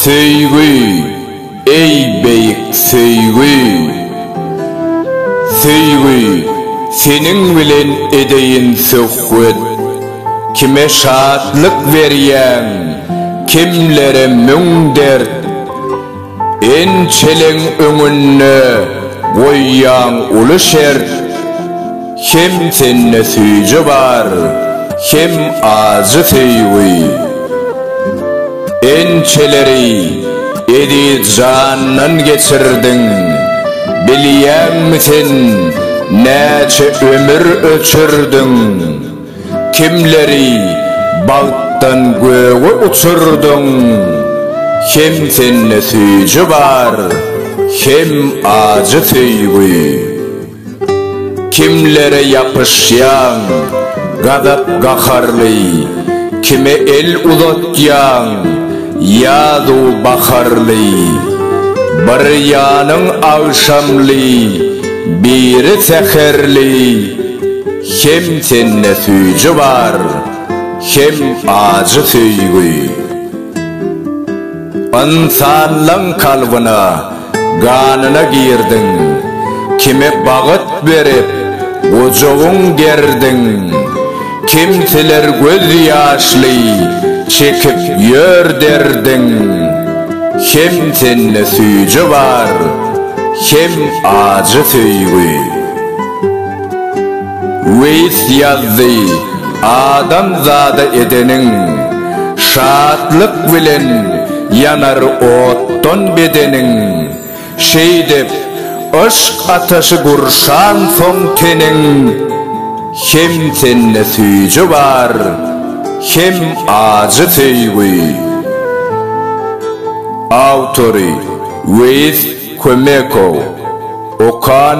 Söýgi, eý beýik söýgi! Söýgi, seniň bilen edeýin söhbet. Kime şatlyk berýäň, kimlere müň dert. Ençeleň öňünde goýýaň uly şert, Hem sende süýji bar, hem ajy söýgi. Ençeleri eziz jandan geçirdiň, Bilýäňmi sen näçe ömür öçürdiň? Kimleri bagtdan göge uçurdyň, Hem sende süýji bar, hem ajy söýgi. Kimlere ýapyşýaň, gazap-gaharly, Kime el uzatýaň, ýazu baharly. Bir ýanyň agşamly, biri säherli. Hem sende süýji bar, hem ajy söýgi. Ynsanlaň kalbyna, ganyna girdiň. Kime bagyt berip, gujagyň gerdiň. Kimseler göz ýaşly çekip ýör derdiň. Hem sende süýji bar, hem ajy söýgi. Weis ýazdy, Adam zada edeniň, şatlyk bilen ýanar otdan bedeniň, Şeýdip, yşk ataşy gurşansoň teniň, Hem sende süýji bar, hem ajy söýgi. Awtory, Weis Kömekow. Okan.